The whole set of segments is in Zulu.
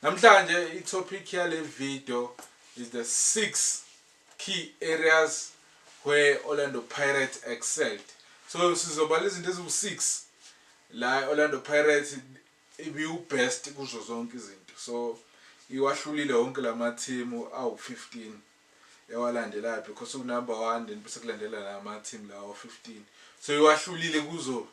Namhlanje i topic yale video is the 6 key areas where Orlando Pirates excelled. So sizobala izinto eziwu-6 la Orlando Pirates ibiwu-best kuzo zonke izinto. So iwahlulile wonke lamathimu awu-15. ewalandelaphi cos u number one then bese kulandela la ma team lawa 15 so iwahlulile kuzo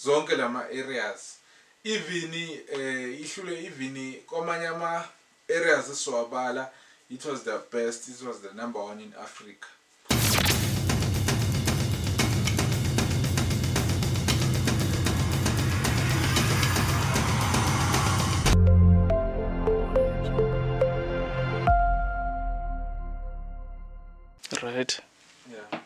zonke lama areas even eh ihlule even kwamanye ama areas esiwabala it was the best it was the number one in Africa Right. Yeah.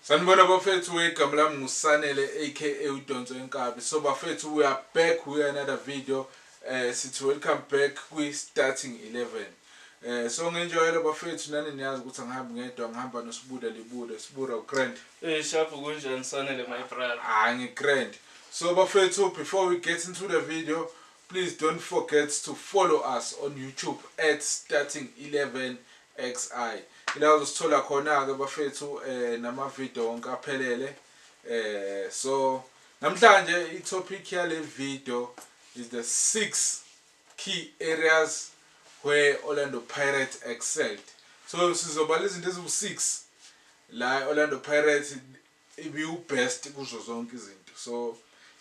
Sanibona bafethu wegama lami ngusanele aka udonso enkabi so bafethu we are back with another video eh sithi welcome back kwi starting 11 Eh so ngenjwayelo bafethu nani niyazi ukuthi angihambi ngedwa ngihamba noSibuda libuda Sibura uGrand. Eh shabu kunjani sanele my brother. Ah ngiGrand. So bafethu before we get into the video please don't forget to follow us on YouTube at starting 11 XI. Ila uzosithola khona ke bafethu eh nama video wonke aphelele. Eh so namhlanje i topic yale video is the 6 key areas where Orlando Pirates excelled. So sizobala izinto eziwu 6 la Orlando Pirates ibiwu best kuzo zonke izinto. So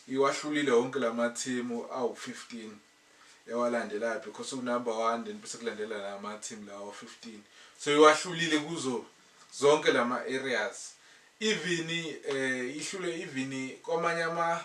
iwahlulile wonke lama team awu 15 ewalandelayo because u number 1 then bese kulandela lama team lawo 15. So iwahlulile kuzo zonke lama areas. Even eh ihlule even kwamanye ama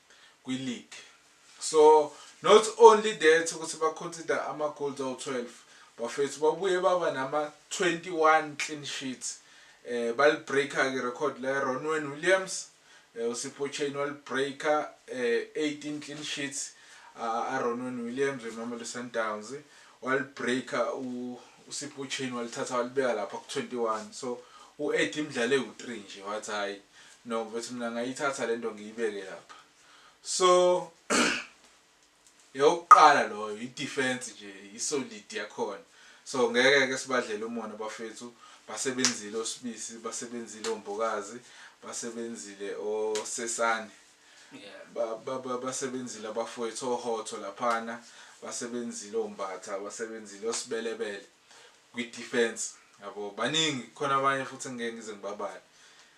kwi league so not only that ukuthi ba consider ama goals awu 12 bafethu babuye baba nama 21 clean sheets eh bali breaker ke record la Ronwen Williams eh uSipho Chain wali breaker eh 18 clean sheets a Ronwen Williams weMamelodi Sundowns wali breaker u uSipho Chain walithatha walibeka lapha ku 21 so u Eddie Mdlale u 3 nje wathi hayi No mfethu mina ngayithatha lento ngiyibeke lapha. So yokuqala loyo i defense nje i solid yakhona. So ngeke ke sibadlela umona bafethu basebenzile osibisi basebenzile ombokazi basebenzile osesane. Yeah. Ba ba basebenzile abafowethu ohotho laphana basebenzile ombatha basebenzile osibelebele kwi defense yabo baningi khona abanye futhi ngeke ngize ngibabale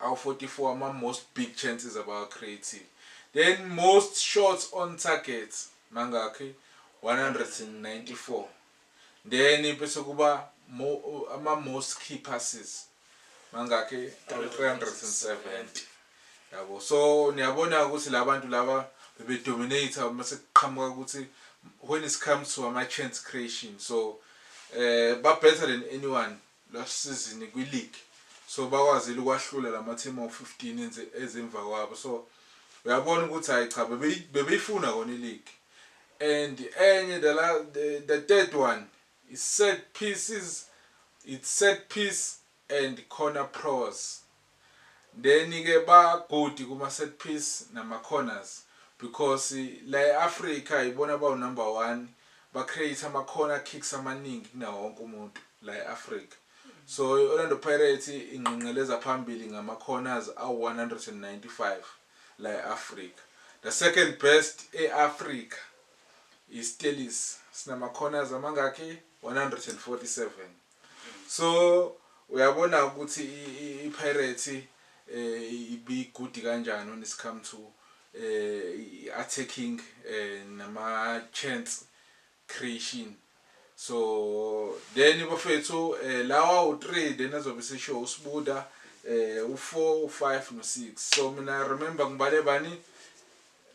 Awu 44 ama most big chances abawa creatile then most shots on target mangakhi 194 then bese kuba mo, ama most key passes mangakhi 370 yabo so niyabona ukuthi labantu laba bebe dominate uma sekuqhamuka ukuthi when it comes to ama chance creation so eh ba better than anyone last season kwi league so bakwazile ukwahlula lama team awu 15 enze eze emva kwabo so uyabona ukuthi hayi cha bebeyi bebeyifuna kona i league and enye the la the, the third one is set pieces it's set piece and corner pros Then ke ba good kuma set piece nama corners because la e Africa yibona abawu number one ba create ama corner kicks amaningi kunawo wonke umuntu la e Africa. So i Orlando Pirates ingqengqeleza phambili ngama corners awu 195 la e Africa. The second best e Africa i Stellies sinama corners amangaki 147. So uyabona ukuthi iPirates ibi good kanjani when it's come to attacking nama chance creation. So then bafethu lawa u3 then azobe sesho uSibuda u4 u5 no6. So mina remember ngibale bani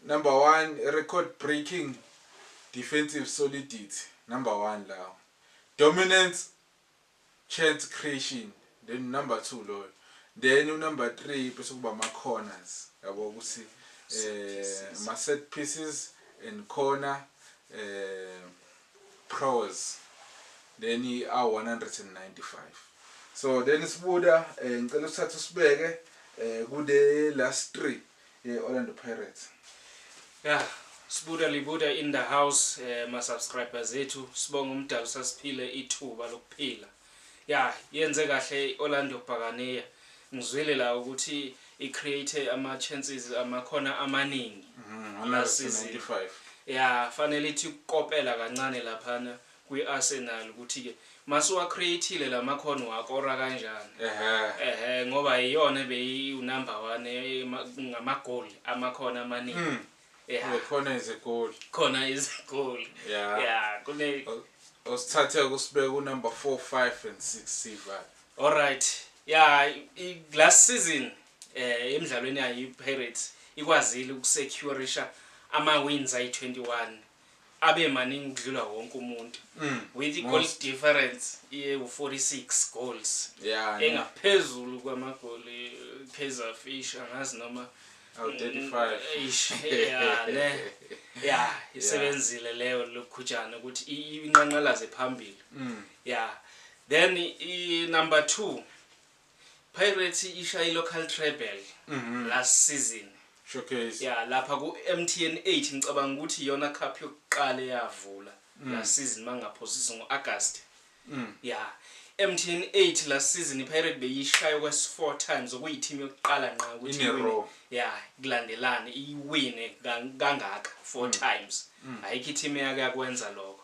number 1 record breaking defensive solidity number 1 lawo. Dominance chance creation then number two loyo then u number three bese kuba ama corners yabo ukuthi eh ma set pieces and corner eh pros then i 195 so then sibuda eh, ngicela usithathe usibeke eh kule last three ye-Orlando Pirates. Yah Sbuda Libuda in the house eh, ma subscribers ethu sibonga umdali usasiphile ithuba lokuphila ya yenze kahle Orlando Bhakaniya ngizwile la ukuthi i create ama chances amakhona amaningi mm, last season ya fanele ithi ukopela kancane laphana kwi-Arsenal ukuthi-ke masuwa-create-ile la makhono uwakora kanjani. Ehhe. Ehhe, ngoba iyona ebeyiwunumber one ema- ngamagoli, amakhono amaningi. Mm. Ya, Eh, khona izigoli khona izigoli. ya Ya, kune, usithathe kusibeka unumber four five and six sival alright. Ya, i- i- last season eh emidlalweni yayo iPirates ikwazile ukusecurisha ama-wins ayi-21 abe maningi ukudlula wonke umuntu mm. with i-goal difference iwu-46 goals yeah, engaphezulu kwamagoli kaizer fish angazi noma ya isebenzile leyo lokhutshana ukuthi inqanqalaze phambili mm. ya then i-number two Pirates ishaye iLocal Treble last season. Showcase. Ya lapha kuMTN 8 ngicabanga ukuthi iyona cup yokuqala eyavula last season mangingaphosisi ngo-August. Ya MTN 8 last season iPirate beyishaya okwesi-4 times okuyi-team yokuqala nqa ukuthi In a iwine. row. Ya kulandelana iwine kang- kangaka 4 times. Ayikho i-team eyake yakwenza lokho.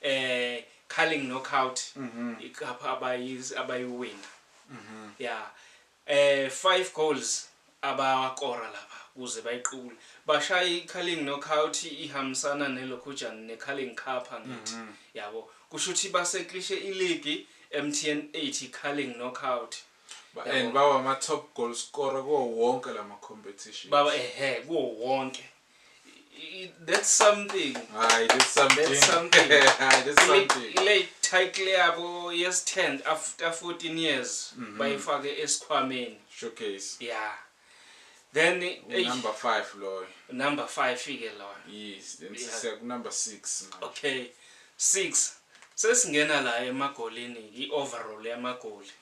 eh Carling Knockout icup abayi abayiwina yeah eh 5 goals abawakora lapha kuze bayiqukule bashaya iCarling Knockout ihambisana neLokhujana neCarling Cup angithi yabo kusho ukuthi baseklishe iligi MTN 80 Carling Knockout Ba- and bawa ama top goal scorer kuwo wonke lama competition baba ehe kuwo wonke that's something hayi that's something that's something hayi that's something late title yabo yes 10 after 14 years mm -hmm. bayifake esikhwameni showcase yeah then number 5 loyo number 5 fike loyo yes then yeah. siya ku number 6 okay 6 sesingena la emagolini i overall yamagoli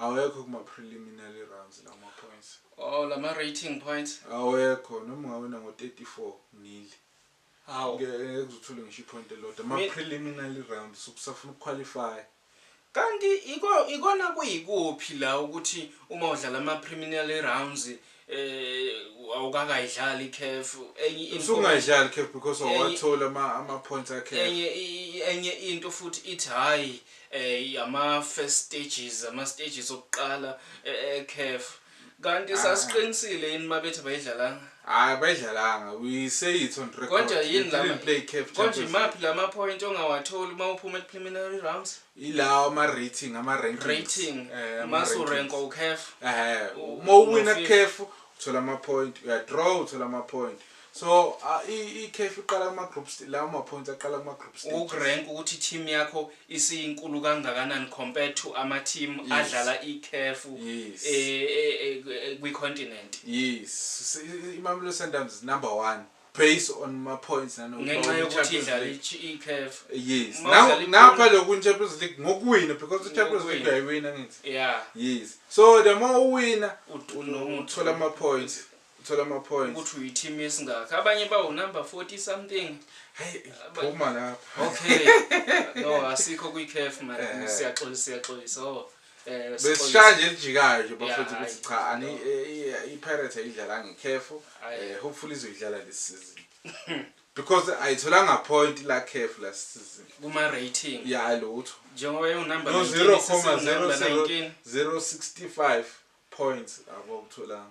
Awekho kuma preliminary rounds lawo ma points. Oh lama rating points. Awekho noma ungawina ngo 34 nil. Hawu. Ngeke uze uthole ngisho ipoint elilodwa. Ma preliminary rounds ukusafuna ukuqualify. Kanti ikona kuyikuphi la ukuthi uma udlala ama preliminary rounds eh awukakayidlali iCAF enye into usungayidlali iCAF because awathola ama ama points akhe enye enye into futhi ithi hayi eh yama first stages ama stages okuqala eCAF eh, eh, kanti ah. sasiqinisile yini mabethi bayidlalanga hayi bayidlalanga we say it on record kodwa yini la play CAF konje maphi lama point ongawatholi uma uphuma epreliminary rounds Yilawo ama rating ama rankings. Rating. Eh, ama Mase rankings. urenka uCaf. Ehhe, U- uma uwina uno-fifth. kuCaf uthola ama point, uya draw uthola ama point. So ah, i iCaf iqala kuma group st- lawo ma points aqala kuma group stages. Ukurank ukuthi team yakho isiyinkulu kangakanani compared to ama team Yes. adlala iCaf Yes. eh, eh, eh, kwi continent. Yes, S- i- i- Mamelodi Sundowns is number 1 based on ma points ngenxa yokuthi idlala iCAF yes now napha lokhu Champions League ngokuwina because iChampions League uyayiwina ngithi yeah yes so the more uwina uthola ama points uthola ama points ukuthi uyi team esingaka abanye bawu number 40 something hey phuma lapha okay no asikho kwi CAF man eh. siyaxolisa siyaxolisa oh Eh, besishaya nje elijikayo nje bafethu ukuthi cha ani i-pirate ayidlalanga ikhefu eh, hopefully izoyidlala this season because ayitholanga point la khefu last season kuma rating ya lutho njengoba yo number 0.065 points abokutholanga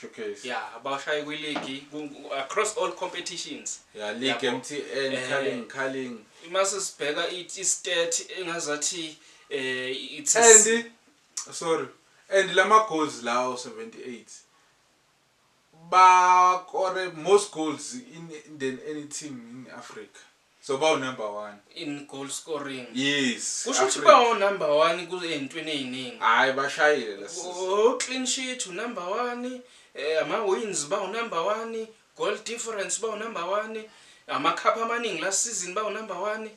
showcase yeah abashaye kwi league across all competitions yeah league MTN eh, calling calling imase sibheka i stat engazathi eh it's and sorry and lama goals lawo 78 ba kore most goals in than any team in Africa So bawu number one. In goal scoring. Yes. Kusho ukuthi Africa. bawu number one kuzentweni eziningi. Hayi bashayile la sisi. Oh clean sheet u number one, eh, ama wins bawu number one, goal difference bawu number one, ama cup amaningi last season bawu number one.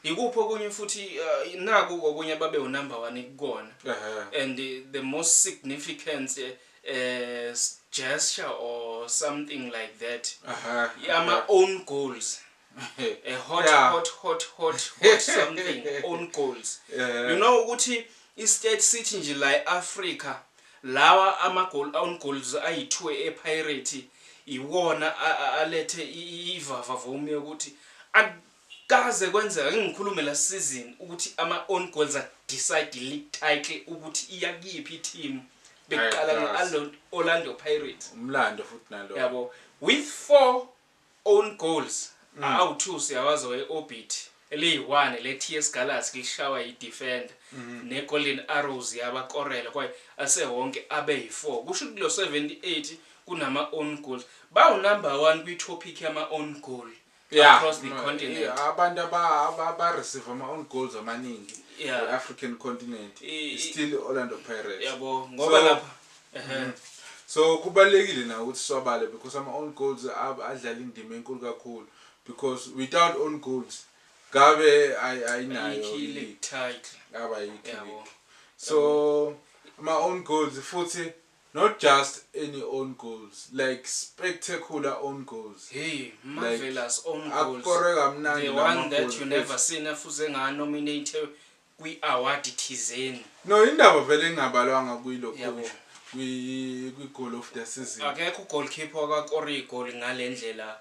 Yikuphi okunye futhi uh, naku okunye babe u number one kukona. Ehhe. And eh, the most significant eh, eh gesture or something like that Aha, ama aha. own goals a hot Yeah. hot hot hot hot something own goals Eh, you know ukuthi i-state sithi nje la e-afrika lawa ama-goal own goals ayi-two epirate iwona a- a- alethe i- i- ivavavomi yokuthi ak- Kaze kwenzeka ngingikhulume last season ukuthi ama own goals a decide league title ukuthi iya kuyiphi i team bekuqala nge Alon Orlando Pirates. Umlando futhi nalowo. Yabo with four own goals awu two siyawazi owe Orbit eliyi one le TS Galaxy lishawa yi defender ne Golden Arrows yabakorela kwaye asewonke abe yi four kusho ukuthi lo 78 kunama own goals bawu number one kwi topic yama own goal yeah, across the mm, continent yeah, abantu abareceive ama-own goals amaningi yeah. i-african continent I, still orlando pirates yabo ngoba so, lapha mm -hmm. so kubalulekile na ukuthi swabale because ama-own goals adlala indima enkulu kakhulu because without own goals ngabe ayinayo yabo so ama-own goals futhi Not just any own goals like spectacular own goals Hey marvelous like own goals akorwe kamnandi the one that you namagoli never ethu. seen efuze nga nominate kwi award thizeni. No indaba vele engabalwanga kwi lo Yabo. coach kwi kwi goal of the season. Akekho u goalkeeper owaka kora igoli ngalendlela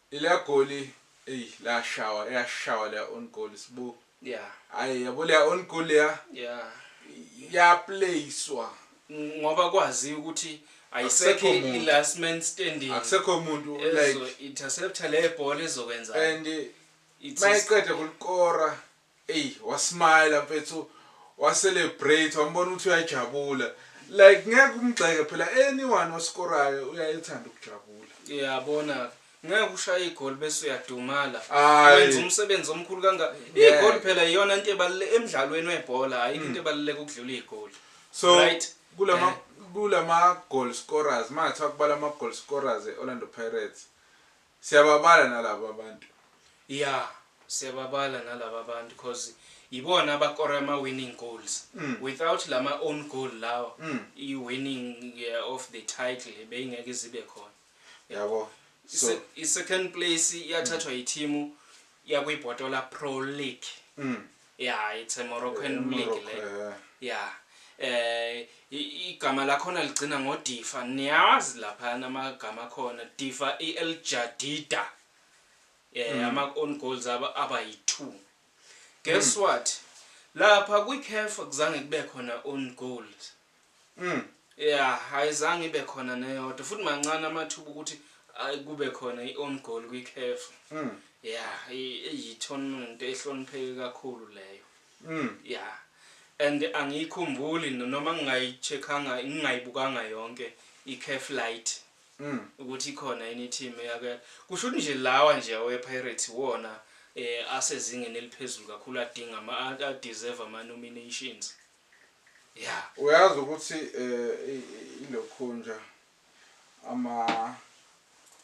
Leliya goli eyi lashawa yashawa leya own goal sbu. Yeah. Ayi yabo leya own goal leya. Yeah. Ya playswa. Ngoba kwaziwa ukuthi ayisekho i last man standing. Akusekho umuntu like. Ezo interceptor le bhola ezokwenza. And mayiqeda kulikora Ey wa smile mfethu wa celebrate wambona ukuthi uyajabula like ngeke umgxeke phela anyone osikorayo uyayethanda ukujabula. Uyabona ngeke ushaye igoli bese uyadumala. Wenza umsebenzi omkhulu kanga igoli phela iyona into ebalule emdlalweni webhola ayikho into mm. ebaluleka ukudlula igoli. So right? kulama eh. kulama goal scorers mathiwa kubala ama goal scorers e Orlando Pirates Siyababala nalaba abantu. Yeah siyababala nalaba abantu coz yibona abakora ama winning goals. Without lama own goal lawa i winning of the title beyingeke ize ibe khona. Yabo. So I second place yathathwa yithimu yakwi Botola Pro League. Yeah it's a Moroccan eh, league le. Eh. Yeah. Eh igama lakhona ligcina ngo Difa. Niyazi lapha namagama khona Difa EL Jadida. Eh mm. ama own goals aba aba yi2. Guess mm. what? Lapha kwi CAF kuzange kube khona own goals. Mm. Yeah, ayizange ibe khona neyodwa futhi mancane amathuba ukuthi kube khona i-own goal kwikhefu mm. ya iyi-tournament ehlonipheke kakhulu leyo mm. ya and angiyikhumbuli noma ngingayi-checkanga ngingayibukanga yonke i-caf light mm. ukuthi ikhona yini i-team yake kusho ukuthi nje lawa nje awe-pirates wona um asezingeni eliphezulu kakhulu adinga ama-deserve ama-nominations Yeah. Uyazi ukuthi eh ilokhunja ama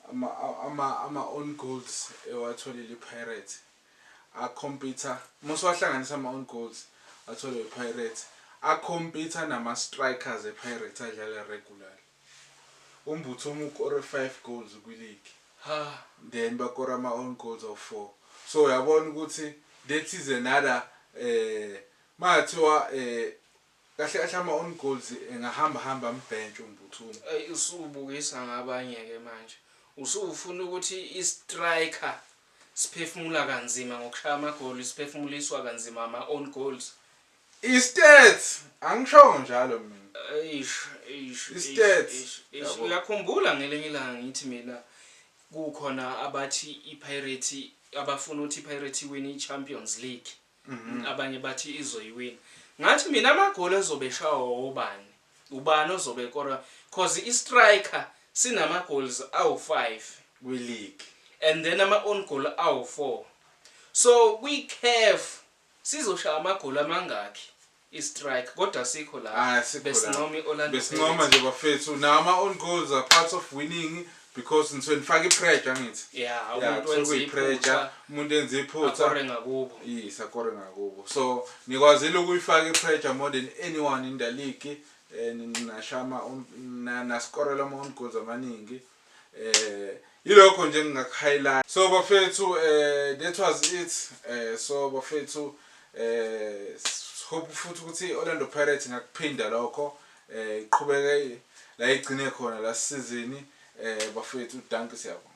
ama ama ama own goals ewatholile iPirates a computer musa wahlanganisa ama own goals atholwe iPirates a computer nama strikers ePirates adlala regular umbutho umuk or 5 goals kwi league ha then bakora ama own goals of 4 so uyabona ukuthi that is another eh Makathiwa kahle kahle ama own goals engahamba hamba ambhentshe uMbuthuma. Ayi usubukisa ngabanye ke manje usufuna ukuthi i striker siphefumula kanzima ngokushaya amagoli siphefumuliswa kanzima ama own goals. I stats angishongo njalo mina. Eish eish I stats eish eish yabo. uyakhumbula ngelinye ilanga ngithi mina kukhona abathi iPirates abafuna ukuthi iPirates iwine iChampions League. abanye bathi izoyiwina. Ngathi mina amagoli azobe eshawa obani, ubani ozobe ekora cause i-striker sinama goals awu five kwi league and then ama own goal awu four. So kwi CAF sizoshaya amagoli amangakhi I strike kodwa asikho la Ay asikho la. besincoma i Orlando Besincoma Pirates. nje bafethu. Nawo ama own goals are parts of winning because nisuke nifaka i pressure angithi. Yeah Yeah, umuntu kusuke wenza kuyi pressure. iphutha Umuntu enza iphutha. akore ngakubo. Yes akore ngakubo. So nikwazile ukuyifaka i pressure more than anyone in the league. Eh, ni- Nashaya ama own na- naskorela ama own goals amaningi. eh yilokho nje engingakuhighlight so bafethu eh that was it eh so bafethu eh hope futhi ukuthi Orlando Pirates ngakuphinda lokho eh iqhubeke la igcine khona la season eh bafethu danke siyabonga